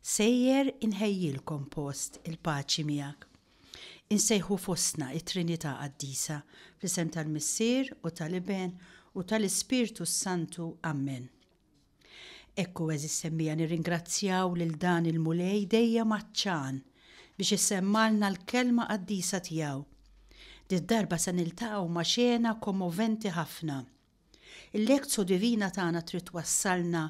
Sejjer inħejjilkom post, il-paċi miegħek. Insejħu fostna t-Trinità Qaddisa, fl-isem tal-Missier u tal-Iben u tal-Ispirtu s-Santu. Ammen. Ekku, għeżież semmija, nirringrazzjaw lil dan il-Mulej dejjem għatxan biex issemmalna l-Kelma Qaddisa tiegħu. Did-darba se niltaqgħu ma' xena kommoventi ħafna. Il-Lectio Divina tagħna trid twassalna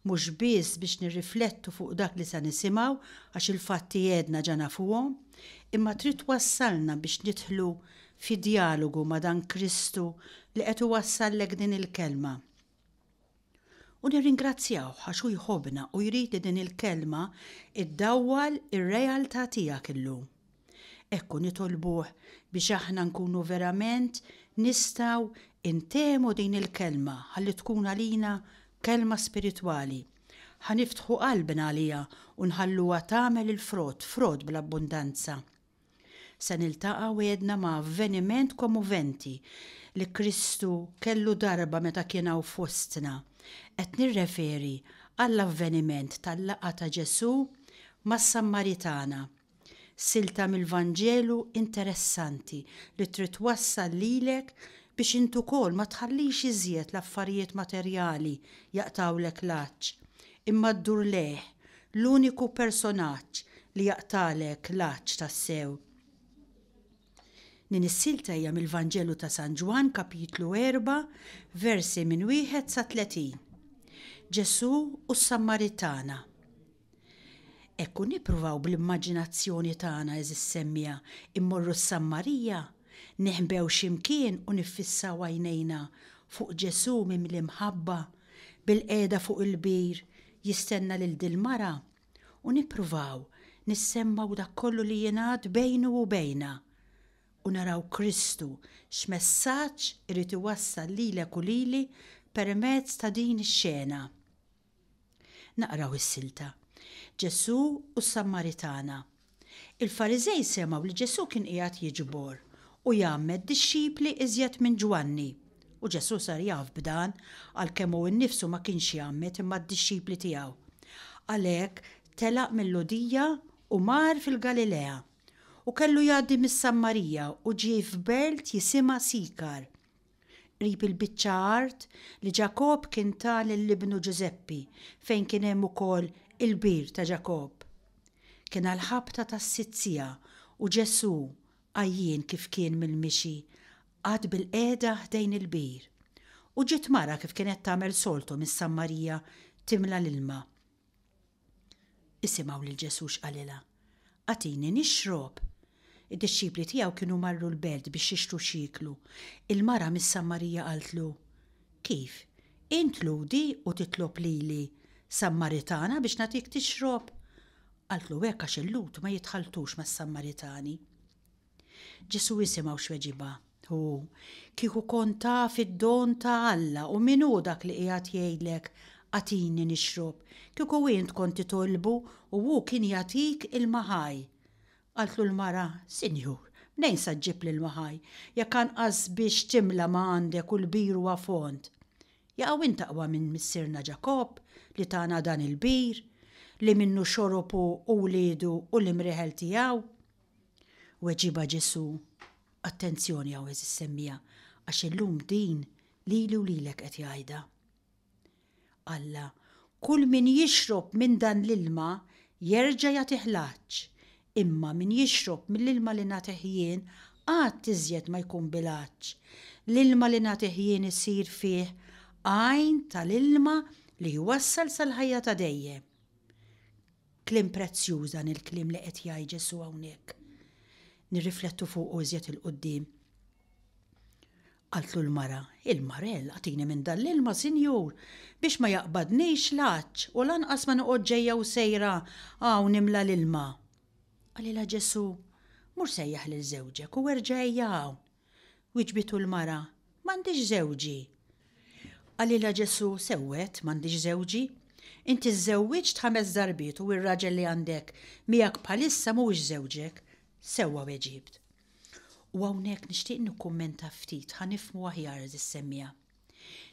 mhux biss biex nirriflettu fuq dak li se nisimgħu għax il-fatti għedna ġa nafuhom, imma trid twassalna biex nidħlu fi djalogu ma' dan Kristu li qed iwassallek din il-Kelma. U nirringrazzjawh għax hu jħobbna u jrid li din il-Kelma iddawwal ir-realtà tiegħek illum. Hekk u nitolbuh biex aħna nkunu verament nistgħu ntehmu din il-Kelma ħalli tkun għalina Kelma spiritwali. Ħa niftħu qalbna għaliha u nħalluha tagħmel il-frott, frott bl-abbundanza. Se niltaqgħu għedna ma' avveniment komoventi li Kristu kellu darba meta kien hawn fostna. Qed nirreferi għall-avveniment tal-laqgħa ta' Ġesù mas-Sammaritana. Silta mill-Vanġelu interessanti li trid twassal lilek biex int ukoll ma tħallix iżjed l-affarijiet materjali jaqtgħulek l-għatx, imma ddur lejh, l-uniku personaġġ li jaqtagħlek l-għatx tassew. Din is-silta hija mill-Vanġelu ta' San Ġwann, Kapitlu 4, versi minn wieħed sa 30. Ġesù u s-Sammaritana. Hekk u nippruvaw bl-immaġinazzjoni tagħna, għeżież semmiegħa, immorru s-Sammarija, neħbew xi mkien u niffissaw għajnejna fuq Ġesù mimli mħabba, bilqiegħda fuq il-bir jistenna lil dil-mara, u nippruvaw nissemmgħu dak kollu li jingħad bejnu u bejna, u naraw Kristu x'messaġġ irid iwassal lilek u lili permezz ta' din ix-xena. Naqraw is-silta, Ġesù u s-Sammaritana. Il-Fariżej semgħu li Ġesù kien qiegħed jiġbor u jgħammed dixxipli iżjed minn Ġwanni, u Ġesù sar jaf b'dan għalkemm hu nnifsu ma kienx jgħammed imma d-dixxipli tiegħu. Għalhekk telaq mil-Lhudija u mar fil-Galilea. U kellu jgħaddi mis-Sammarija u ġie f'belt jisimha Sikar. Qrib il-biċċa art li Ġakobb kien ta lil ibnu Ġużeppi fejn kien hemm ukoll il-bir ta' Ġakobb. Kien għall-ħabta tas-sitt siegħa u Ġesù, għajjien kif kien mill-mixi, qagħad bilqiegħda ħdejn il-bir. U ġiet mara kif kienet tagħmel soltu mis-Sammarija timla l-ilma. Isimgħu lil Ġesù x'qalilha, Agħtini nixrob. Id-dixxipli tiegħu kienu marru l-belt biex jixtru x'jieklu. Il-mara mis-Sammarija qaltlu, Kif, int Lhudi u titlob lili, Sammaritana biex nagħtik tixrob? Qaltlu hekk għax il-Lhud ma jitħalltux mas-Sammaritani. Ġesù isimgħu x'weġibha. Hu, Kieku kont taf id-don ta' Alla u min hu dak li qiegħed jgħidlek, 'Agħtini nixrob', kieku int kont titolbu u hu kien jagħtik ilma ħaj. Qaltlu l-mara, Sinjur, mnejn sa ġġib l-ilma ħaj, jekk anqas biex timla ma għandek u l-bir huwa fond? Jaqaw int aqwa minn missierna Ġakobb, li tana dan il-bir, li minnu xorob hu u wliedu u l-imrieħel tiegħu? Weġibha Ġesù, Attenzjoni hawn għeżież semmiegħa, għax illum din lili u lilek qed jgħidha. Alla, Kull min jixrob minn dan l-ilma jerġa' jagħtih l-għatx, imma min jixrob mill-ilma li nagħtih jien qatt iżjed ma jkun bil-għatx. L-ilma li nagħtih jien isir fih għajn tal-ilma li jwassal sal-ħajja ta' dejjem. Kliem prezzjuż dan il-kliem li qed jgħid Ġesù hawnhekk. Nirriflettu fuqu iżjed 'il quddiem. Qaltlu l-mara, Il-marell, agħtini minn dan l-ilma, Sinjur, biex ma jaqbadnix l-għatx u lanqas ma noqgħod ġejja u sejra hawn nimla l-ilma. Qalilha Ġesù, Mur sejjaħ lil żewġek u erġa' ejja hawn. Wiġbitu l-mara, M'għandix żewġi. Qalilha Ġesù, Sewwet, m'għandix żewġi. Inti żżewwiġt ħames darbiet u r-raġel li għandek miegħek bħalissa mhuwiex żewġek. Sewwa weġibt. U hawnhekk nixtieq nikkummenta ftit ħa nifhmu aħjar is-semmiegħa.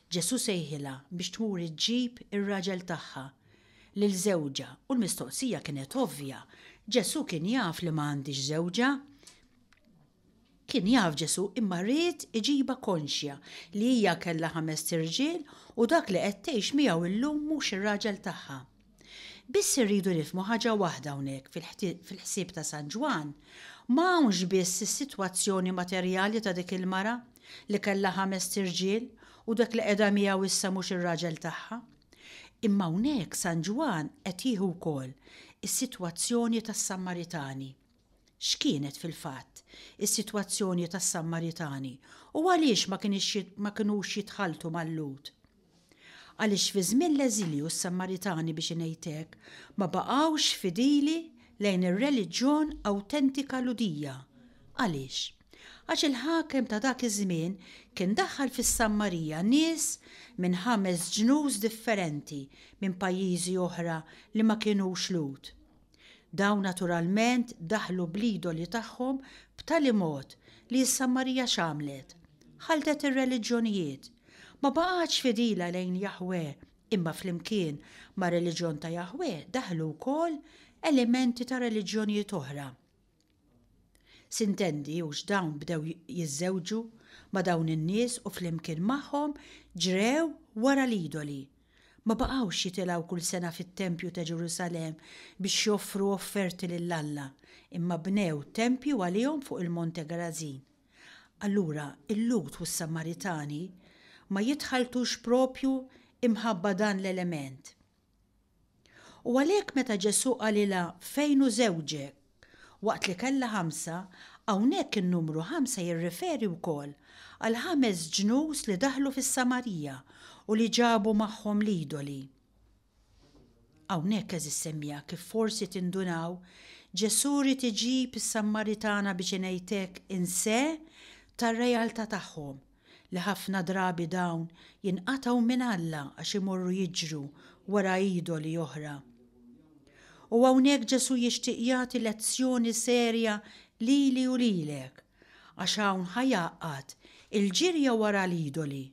Ġesù sejħilha biex tmur iġġib ir-raġel tagħha, lil żewġha, u l-mistoqsija kienet ovvja, Ġesù kien jaf li ma għandhiex żewġha. Kien jaf Ġesù imma ried iġibha konxja li hija kellha ħamest irġiel u dak li qed tgħix miegħu illum mhux ir-raġel tagħha. Biss irridu nifhmu ħaġa waħda hawnhekk fil-ħsieb ta' San Ġwann, ma hawnx biss is-sitwazzjoni materjali ta' dik il-mara li kellha ħamest irġiel u dak li qiegħda miegħu issa mhux ir-raġel tagħha. Imma hawnhekk San Ġwann qed jieħu wkoll is-sitwazzjoni tas-Sammaritani. X'kienet fil-fatt is-sitwazzjoni tas-Sammaritani u għaliex ma kinux jitħalltu mal-Lhud? Għaliex fi żmien l-eżilju s-Sammaritani biex ngħid hekk ma baqgħux fidili lejn ir-reliġjon awtentika Lhudija. Għaliex? Għax il-ħakem ta' dak iż-żmien kien daħħal fis-Sammarija nies minn ħames ġnus differenti minn pajjiżi oħra li ma kinux Lhud. Dawn naturalment daħlu bl-idoli tagħhom b'tali mod li s-Sammarija x'għamlet? Ħaltet ir-reliġjonijiet. Ma baqgħetx fidila lejn Jaħweh, imma flimkien mar-reliġjon ta' Jaħweh daħlu wkoll elementi ta' reliġjonijiet oħra. Sintendi hux dawn bdew jiżżewġu ma' dawn in-nies u flimkien magħhom ġrew wara l-idoli. Ma baqgħux jitilgħu kull sena fit-tempju ta' Ġerusalemm biex joffru offerti lil Alla, imma bnew tempji għalihom fuq il-Monte Gerażin. Allura l-Lhud u s-Samaritani ma jitħalltux proprju imħabba dan l-element. U għalhekk meta Ġesù qalilha fejn hu żewġek? waqt li kellha ħamsa, hawnhekk in-numru ħamsa jirriferi wkoll għal ħames ġnus li daħlu fis-Samarija u li ġabu magħhom l-idoli. Hawnhekk għeżież semmiegħa kif forsi tindunaw, Ġesù ried iġib is-Sammaritana biex ingħidlek in se tar-realtà tagħhom, li ħafna drabi dawn jinqatgħu minn Alla għax imorru jiġru wara idoli oħra. U hawnhekk Ġesù jixtieq jagħti lezzjoni serja lili u lilek, għax hawn ħa jgħaqqad il-ġirja wara l-idoli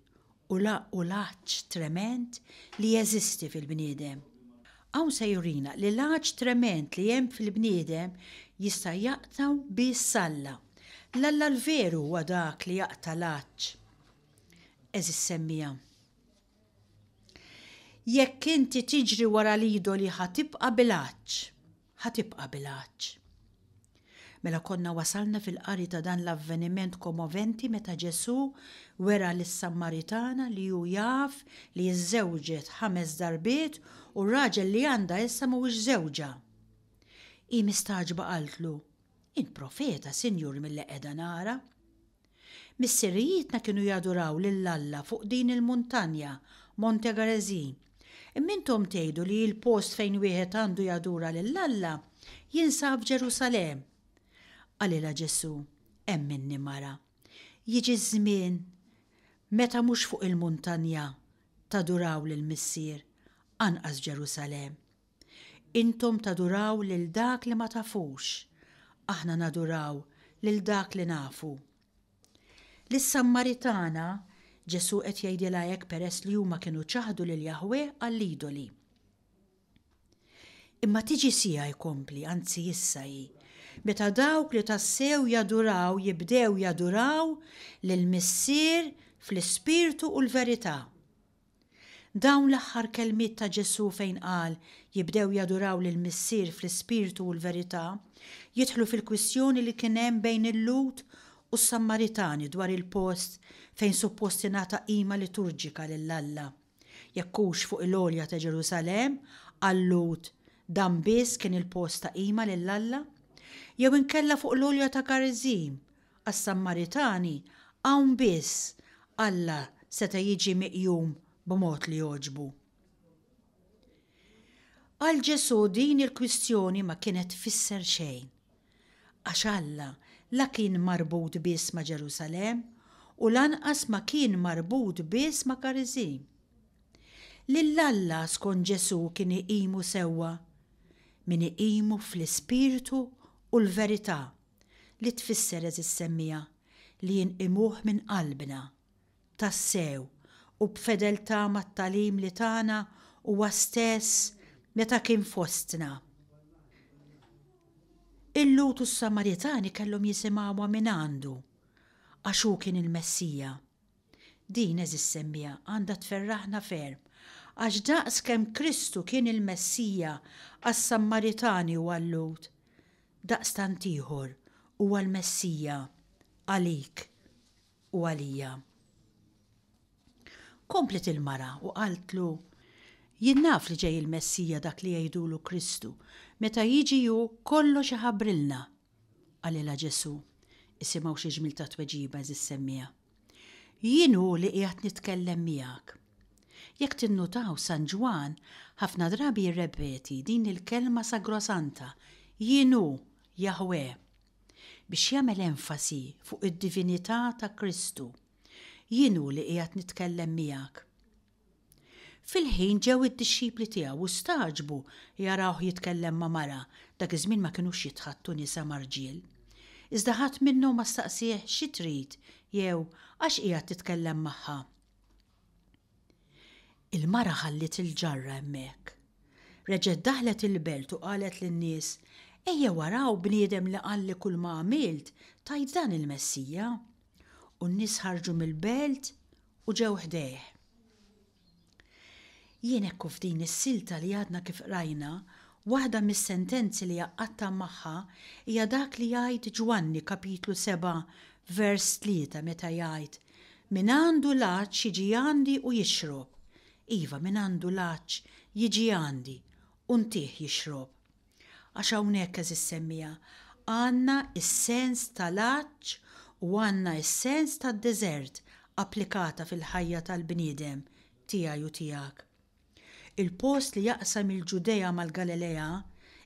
u l-għaġġ tremend li jeżisti fil-bniedem. Hawn se jurina li l-għatx tremend li hemm fil-bniedem jista' jaqtgħu biss Alla. L-Alla l-veru huwa dak li jaqta' l-għatx. Għeżież semmiegħa, jekk inti tiġri wara l-idoli ħa tibqa' bil-għatx, ħa tibqa' bil-għatx. Mela konna wasalna fil-qari ta' dan l-avveniment komoventi meta Ġesù wera lis-Sammaritana li hu jaf li żżewġet ħames darbiet u r-raġel li għandha issa mhuwiex żewġha. Hi mistagħġba qaltlu, Int profeta, Sinjur, milli qiegħda nara. Missirijietna kienu jaduraw lil Alla fuq din il-muntanja, Monte Gerizim. Imma intom tgħidu li l-post fejn wieħed għandu jadura lil Alla jinsab f'Ġerusalemm. Qalilha Ġesù, Hemm minni, mara. Jiġi ż-żmien meta mhux fuq il-muntanja taduraw lill-Missier, anqas f'Ġerusalemm. Intom taduraw lil dak li ma tafux, aħna naduraw lil dak li nafu. Lis-Sammaritana, Ġesù qed jgħidilha hekk peress li huma kienu ċaħdu lil Jaħweh għall-idoli. Imma tiġi siegħa jkompli, anzi issa hi, meta dawk li tassew jaduraw jibdew jaduraw lill-Missier fl-ispirtu u l-verità. Dawn l-aħħar kelmiet ta' Ġesù fejn qal, Jibdew jaduraw lill-Missier fl-ispirtu u l-verità, jidħlu fil-kwistjoni li kien hemm bejn il-Lhud u s-Sammaritani dwar il-post fejn suppost tingħata qima liturġika lil Alla, jekk hux fuq il-għolja ta' Ġerusalemm, għal-Lhud dan biss kien il-post ta' qima lil Alla, jew inkella fuq l-għolja ta' Gariżim, Għas-Sammaritani hawn biss Alla seta' jiġi miqjum b'mod li jogħġbu. Għal Ġesù din il-kwistjoni ma kienet tfisser xejn, għax Alla la kien marbut biss ma' Ġerusalemm u lanqas ma kien marbut biss ma' Kariżim. Lil Alla skont Ġesù kien iqimu sewwa min iqimu fl-ispirtu u l-verità. li tfisser għeżiż semmiegħa li inqimuh minn qalbna. Tassew, u b'fedeltà mat-tagħlim li tana huwa stess meta kien fostna. Il-Lhud u s-Samaritani kellhom jisimgħuha mingħandu għax hu kien il-Messija. Din, għeżież semmiegħa, għandha tferraħna ferm, għax daqs kemm Kristu kien il-Messija għas-Sammaritani u għal-Lhud, daqstant ieħor huwa l-Messija għalik u għalija. Kompliet il-mara u qaltlu, Jien naf li ġej il-Messija dak li jgħidulu Kristu, meta jiġi hu kollox iħabbrilna. Qalilha Ġesù, Isimgħu xi ġmiel ta' tweġiba, għeżież semmiegħa. Jien hu li qiegħed nitkellem miegħek. Jekk tinnutaw San Ġwann ħafna drabi jirrepeti din il-kelma sagrosanta, Jien hu, Jaħweh, biex jagħmel enfasi fuq id-divinità ta' Kristu. Jien hu li qiegħed nitkellem miegħek. Fil-ħin ġew id-dixxipli tiegħu u stagħġbu jarawh jitkellem ma' mara, dak iż-żmien ma kinux jitħaddtu nisa ma' rġiel. Iżda ħadd minnhom ma staqsieh, Xi trid? jew, Għax qiegħed titkellem magħha? Il-mara ħalliet il-ġarra hemmhekk. Reġgħet daħlet il-belt u qalet lin-nies, Ejjew araw bniedem li qalli kulma għamilt, tgħid dan il-Messija. U n-nies ħarġu mill-belt u ġew ħdejh. Jien hekk u f'din is-silta li għadna kif qrajna, waħda mis-sentenzi li għaqqadtha magħha hija dak li jgħid Ġwanni kapitlu 7 vers 3 meta jgħid, Min għandu l-għatx jiġi għandi u jixrob. Iva, min għandu l-għatx jiġi għandi u ntih jixrob. Għax hawnhekk, għeżież semmiegħa, għandna s-sens tal-għatx u għandna s-sens tad-deżert applikata fil-ħajja tal-bniedem, tiegħi u tiegħek. Il-post li jaqsam il-Ġudea mal-Galilea,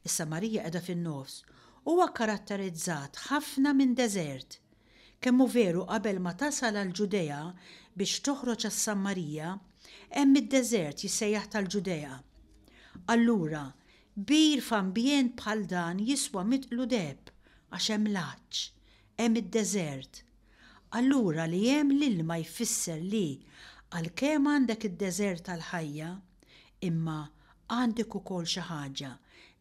is-Samarija qiegħda fin-nofs, huwa kkaratterizzat ħafna minn deżert. Kemm hu veru qabel ma tasal għall-Ġudea biex toħroġ għas-Sammarija, hemm id-deżert jissejjaħ tal-Ġudea. Allura, Kbir f'ambjent bħal dan jiswa mitqlu deheb għax hemm l-għatx, hemm id-deżert. Allura li hemm l-ilma jfisser li għalkemm għandek id-deżert tal-ħajja, imma għandek ukoll xi ħaġa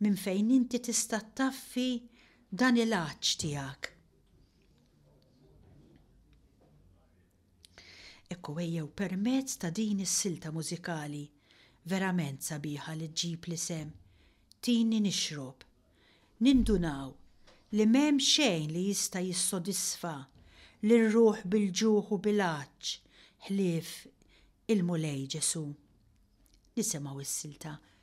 minn fejn inti tista' ttaffi dan il-għatx tiegħek. Hekk hu ejjew permezz ta' din is-silta mużikali verament sabiħa li ġġib l-isem Tini Nixrob nindunaw li m'hemm xejn li jista' jissodisfa lir-ruħ bil-ġuħ u bil-għatx ħlief il-Mulej Ġesù. Nisimgħu s-silta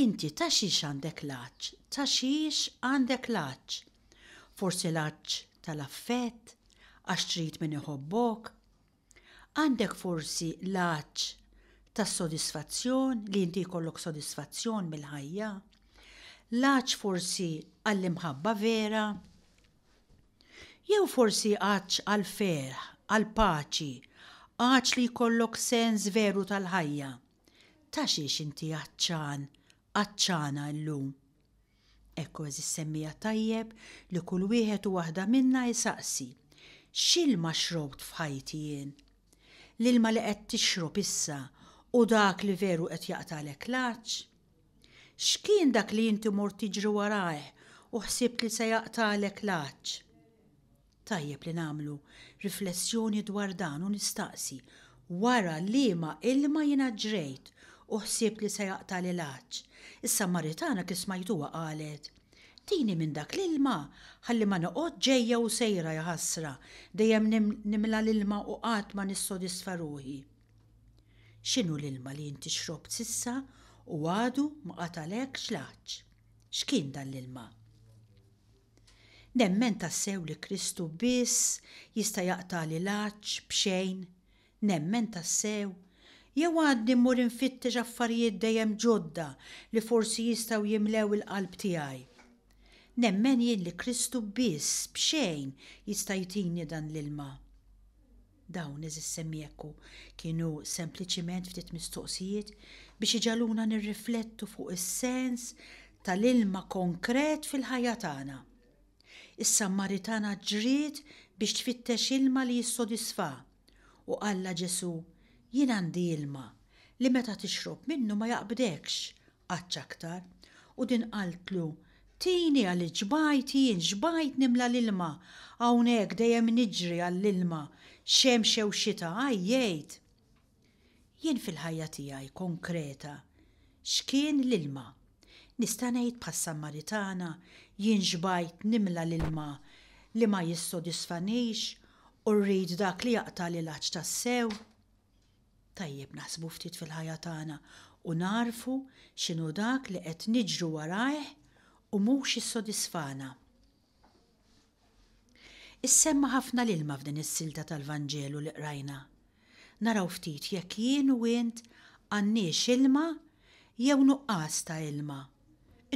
Inti ta' xiex għandek l-għatx, ta' xiex għandek l-għatx? Forsi l-għatx tal-affett, għax trid min iħobbok? Għandek forsi l-għatx tas-sodisfazzjon, li inti jkollok sodisfazzjon mill-ħajja? L-għatx forsi għall-imħabba vera? Jew forsi għatx għall-ferħ, għall-paċi, għatx li jkollok sens veru tal-ħajja? Ta' xiex inti għatxan, għatxana illum? Hekk kważi ssemmija tajjeb li kull wieħed u waħda minna jsaqsi, X'ilma xrobt f'ħajti jien? L-ilma li qed tixrob issa hu dak li veru qed jaqtagħlek l-għatx? X'kien dak li inti mort tiġri warajh u ħsibt li se jaqtagħlek l-għatx? Tajjeb li nagħmlu riflessjoni dwar dan u nistaqsi, wara liema ilma jiena ġrejt u ħsibt li se jaqtagħli l-għatx? Is-Samaritana kif smajtuha qalet, Tini minn dak l-ilma ħalli ma noqgħodx ġejja u sejra, jaħasra, dejjem nimla l-ilma u qatt ma nissodisfa ruħi. X'inhu l-ilma li inti xrobt s'issa u għadu ma qatalekx l-għatx? X'kien dan l-ilma? Nemmen tassew li Kristu biss jista' jaqtagħli l-għatx b'xejn? Nemmen tassew? Jew għadni mmur infittex affarijiet dejjem ġodda li forsi jistgħu jimlew il-qalb tiegħi? Nemmen jien li Kristu biss b'xejn jista' jtini dan l-ilma? Dawn, eżis semmiekku, kienu sempliċiment ftit mistoqsijiet biex iġagħluna nirriflettu fuq is-sens tal-ilma konkret fil-ħajja tagħna. Is-Sammaritana ġriet biex tfittex ilma li jissodisfha, u qallha Ġesù, Jien għandi ilma li meta tixrob minnu ma jaqbdekx, Qatt x'aktar. U din qaltlu, Tini għaliex xbajt jien, xbajt nimla l-ilma. Hawn hekk dejjem niġri għall-ilma, xemx jew xita, għajjejt. Jien fil-ħajja tiegħi konkreta, x'kien l-ilma. Nista' ngħid bħas-Sammaritana, jien xbajt nimla l-ilma li ma jissodisfanix u rrid dak li jaqtagħli l-għatx tassew. Tajjeb naħsbu ftit fil-ħajja tagħna u nagħrfu x'inhu dak li qed niġru warajh u mhux jissodisfana. Issemma' ħafna l-ilma f'din is-silta tal-Vanġelu li qrajna. Naraw ftit jekk jien u int għandniex ilma jew nuqqas ta' ilma.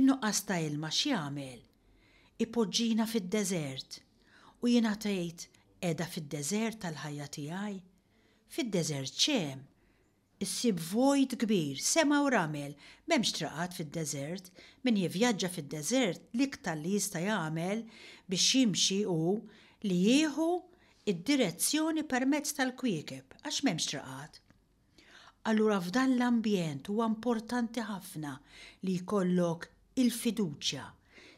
In-nuqqas ta' ilma x'jagħmel? Ipoġġina fid-deżert. U jiena tgħid qiegħda fid-deżert tal-ħajja tiegħi? Fid-deżert x'hemm? Issib vojt kbir, sema u ramel. M'hemmx traqat fid-deżert. Min jivvjaġġa fid-deżert l-iktar li jista' jagħmel biex jimxi hu li jieħu d-direzzjoni permezz tal-kwiekeb għax m'hemmx traqat. Allura f'dan l-ambjent huwa importanti ħafna li jkollok il-fiduċja,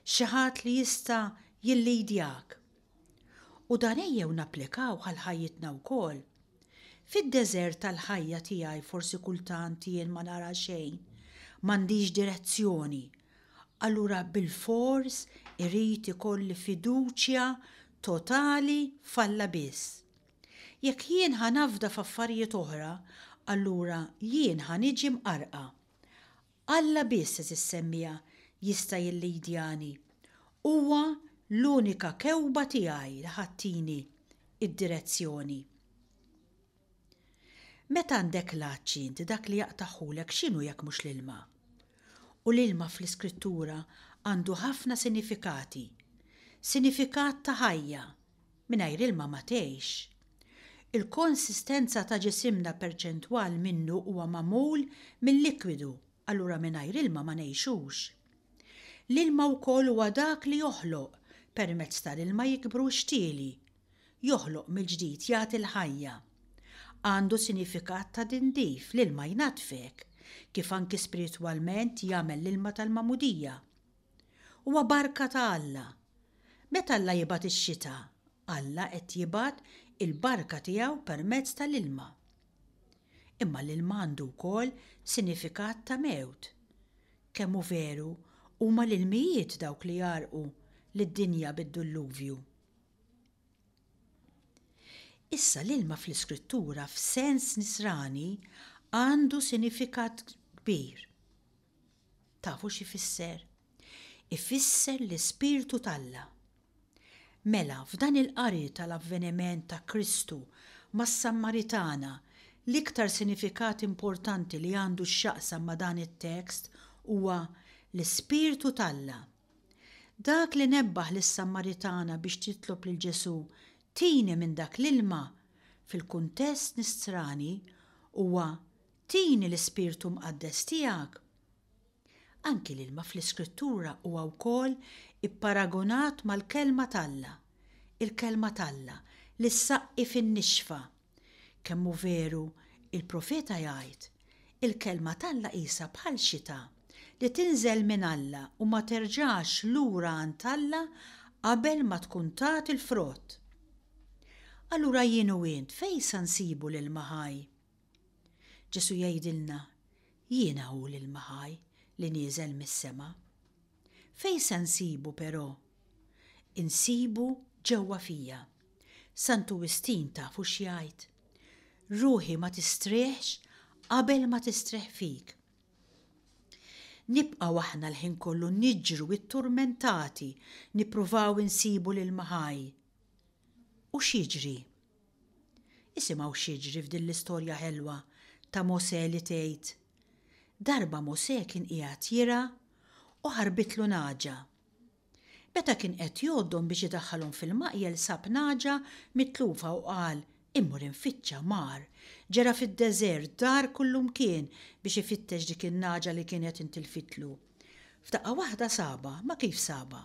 xi ħadd li jista' jillidjak. U dan ejjew napplikawh għal ħajjitna wkoll. Fid-deżert tal-ħajja tiegħi forsi kultant jien ma nara xejn, m'għandix direzzjoni. Allura bilfors irid ikolli fiduċja totali f'Alla biss. Jekk jien ħa nafda f'affarijiet oħra, allura jien ħa niġi mqarrqa. Alla biss, għeżież semmiegħa, jista' jillidjani. Huwa l-unika kewba tiegħi li ħa ttini d-direzzjoni. Meta għandek l-għatx int, dak li jaqtagħhulek x'inhu jekk mhux l-ilma? U l-ilma fl-Iskrittura għandu ħafna sinifikati. Sinifikat ta' ħajja. Mingħajr ilma ma tgħix. Il-konsistenza ta' ġisimna perċentwal minnu huwa magħmul mil-likwidu, allura mingħajr ilma ma ngħixux. L-ilma wkoll huwa dak li joħloq, permezz tal-ilma jikbru x-xtieli. Joħloq mill-ġdid, jagħti l-ħajja. Għandu sinifikat ta' tindif, l-ilma jnaddfek, kif anki spiritwalment jagħmel l-ilma tal-Magħmudija. Huwa barka ta' Alla. Meta Alla jibgħat ix-xita, Alla qed jibgħat il-barka tiegħu permezz tal-ilma. Imma l-ilma għandu wkoll sinifikat ta' mewt. Kemm hu veru, huma l-ilmijiet dawk li jgħarrqu lid-dinja bid-dulluvju. Issa l-ilma fl-Iskrittura f'sens nisrani għandu sinifikat kbir. Tafu x'ifisser? Ifisser l-Ispirtu t'Alla. Mela, f'dan il-qari tal-avveniment ta' Kristu mas-Sammaritana, l-iktar sinifikat importanti li għandu x'jaqsam ma' dan it-tekst huwa l-Ispirtu t'Alla. Dak li nebbaħ lis-Sammaritana biex titlob lil Ġesù tini minn dak l-ilma, fil-kuntest Nisrani, huwa Tini l-Ispirtu Mqaddes tiegħek. Anki l-ilma fl-Iskrittura huwa wkoll ipparagunat mal-Kelma t'Alla, il-Kelma t'Alla li ssaqqi fin-nixfa. Kemm hu veru, il-profeta jgħid, Il-Kelma t'Alla qisha bħal xita li tinżel minn Alla u ma terġax lura għand Alla qabel ma tkun tat il-frott. Allura jien u int fejn sa nsibu l-ilma ħaj? Ġesù jgħidilna, Jiena hu l-ilma ħaj li nieżel mis-sema. Fejn se nsibu però? Insibu ġewwa fija. Santu Wistin tafu x'jgħid? Ruħi ma tistrieħx qabel ma tistrieħ fik. Nibqgħu aħna l-ħin kollu niġru tturmentati nippruvaw insibu l-ilma ħaj. U x'jiġri? Isimgħu x'jiġri f'din l-istorja ħelwa ta' Mosè li tgħid, Darba Mosè kien qiegħed jirgħa u ħarbitlu nagħġa. Meta kien qed jgħoddhom biex idaħħalhom fil-maqjel sab nagħġa mitlufa u qal, Immur infittxa, mar, ġera fid-deżert, dar kullumkien biex ifittex dik in-nagħġa li kienet intilfitlu. F'daqqa waħda sabha, ma kif sabha?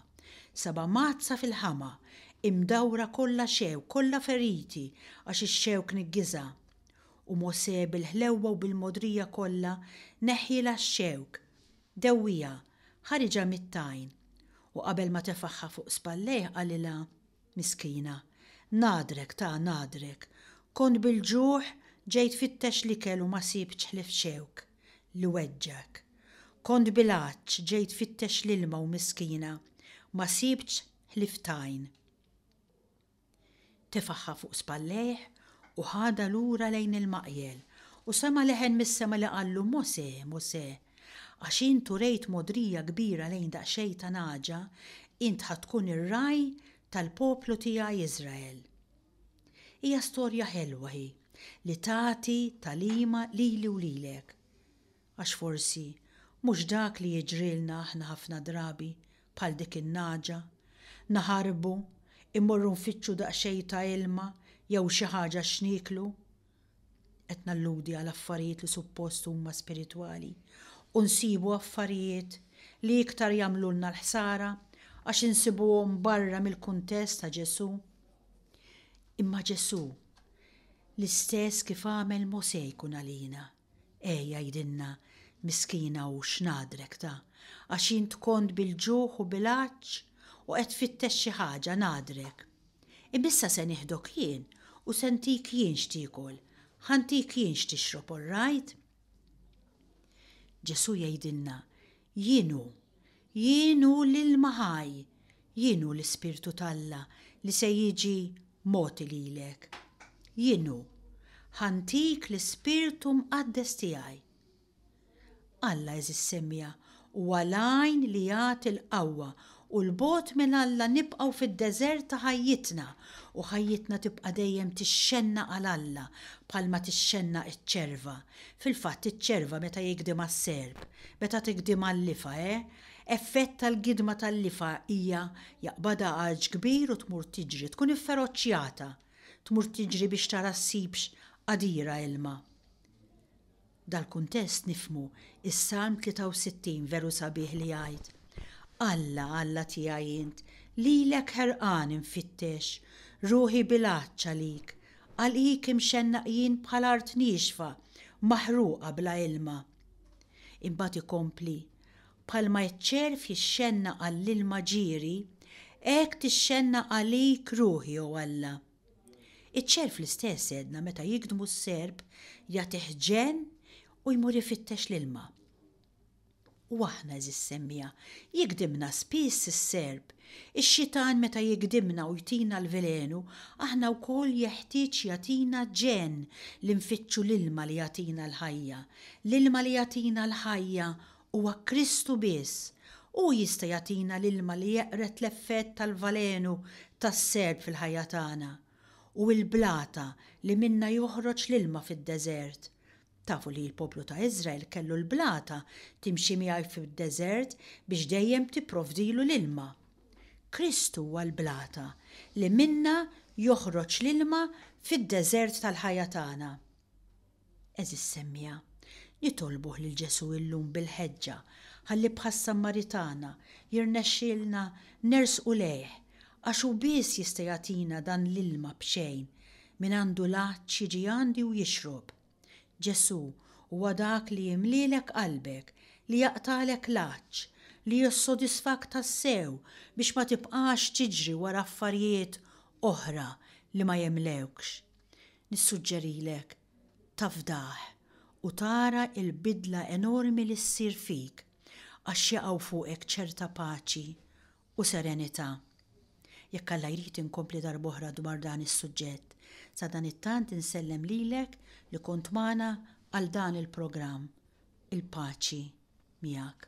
Sabha mgħaddsa fil-ħama, imdawra kollha xewk, kollha feriti, għax ix-xewk niggiżha. U Mosè bil-ħlewwa u bil-mogħdrija kollha neħħielha x-xewk, dewwieha, ħariġha mit-tajn. U qabel ma tefagħha fuq spallejh qalilha, Miskina, ngħadrek ta' ngħadrek, kont bil-ġuħ ġej tfittex l-ikel u ma sibtx ħlief xewk. li weġġgħek. Kont bil-għatx ġejt tfittex l-ilma u miskina ma sibtx ħlief t'għajn. Tefagħha fuq spallejh u ħadha lura lejn il-maqjel u sema' leħen mis-sema li qallu, Mosè, Mosè, għax int urejt mogħdrija kbira lejn daqsxejn ta' nagħġa, int ħa tkun ir-ragħaj tal-poplu tiegħi Israel. Hija storja ħelwa hi li tagħti tagħlima lili u lilek. Għax forsi mhux dak li jiġrilna aħna ħafna drabi bħal dik in-nagħġa, naħarbu, immorru nfittxu daqsxejn ta' ilma jew xi ħaġa x'nieklu qed nalludi għal affarijiet li suppost huma spiritwali, u nsibu affarijiet li iktar jagħmlulna l-ħsara għax insibuhom barra mill-kuntest ta' Ġesù. Imma Ġesù, l-istess kif għamel Mosè jkun għalina. Eh jgħidilna miskina hu x'ngħadrek ta' għax int kont bil-ġuħ u bil-għatx u qed tfittex xi ħaġa ngħadrek. Imma issa se nieħdok jien u se ntik jien x'tiekol, ħa ntik jien x'tixrob orrajt? Ġesù jgħidilna Jien hu. Jien hu l-ilma ħaj. Jien hu l-Ispirtu t'Alla li se jiġi mogħti lilek. Jien hu. Ħa ntik l-Ispirtu Mqaddes tiegħi. Alla, għeżiż Semja, huwa l-għajn li jagħti l-qawwa u 'l bogħod minn Alla nibqgħu fid-deżert ta' ħajjitna u ħajjitna tibqa' dejjem tixxennaq għal Alla bħalma tixxennaq iċ-ċerva, fil-fatt iċ-ċerva meta jigdimha s-serp, meta tigdimha l-lifa, eh, effett tal-gidma tal-lifa hija jaqbadha għarġ kbir u tmur tiġri, tkun ifferoċjata, tmur tiġri biex tara ssibx qadira ilma. Dal-kuntest nifhmu s-Salm 63 veru sabiħ li jgħid, Alla, Alla tiegħi int, lilek ħerqan infittex, ruħi bil-għatx għalik, għalik imxennaq jien bħal art niexfa, maħruqa bla ilma. Imbagħad ikompli, Bħalma ċ-ċerv jixxennaq għall-ilma ġieri, hekk tixxennaq għalik ruħi, o Alla. Iċ-ċerv l-istess għedna meta jigdmu s-serp jagħtih ġenn u jmur ifittex l-ilma. U aħna għeżież semmiegħa, jigdimna spiss is-serp. Ix-xitan meta jigdimna u jtina l-velenu, aħna wkoll jeħtieġ jagħtina ġenn li nfittxu l-ilma li jagħtina l-ħajja. L-ilma li jagħtina l-ħajja Huwa Kristu biss. Hu jista' jagħtina l-ilma li jeqred l-effett tal-valenu tas-serp fil-ħajja tagħna, u l-blata li minnha joħroġ l-ilma fid-deżert. Tafu li l-poplu ta' Iżrael kellu l-blata timxi miegħi fid-deżert biex dejjem tipprovdilu l-ilma. Kristu huwa l-blata li minnha joħroġ l-ilma fid-deżert tal-ħajja tagħna. Għeżież semmiegħa, nitolbuh lil Ġesù illum bil-ħeġġa ħalli bħas-Sammaritana jirnexxielna nersqu lejh għax hu biss jista' jagħtina dan l-ilma b'xejn mingħandu l-għatx jiġi għandi u jixrob. Ġesù huwa dak li jimlielek qalbek, li jaqtagħlek l-għatx, li jissodisfak tassew biex ma tibqax tiġri wara affarijiet oħra li ma jimlewkx. Nissuġġerilek tafdah u tara l-bidla enormi li ssir fik għax jaqgħu fuqek ċerta paċi u serenità. Jekk Alla jrid inkompli darb'oħra dwar dan is-suġġett. Sadanittant insellem lilek li kont magħna għal dan il-programm. Il-paċi miegħek.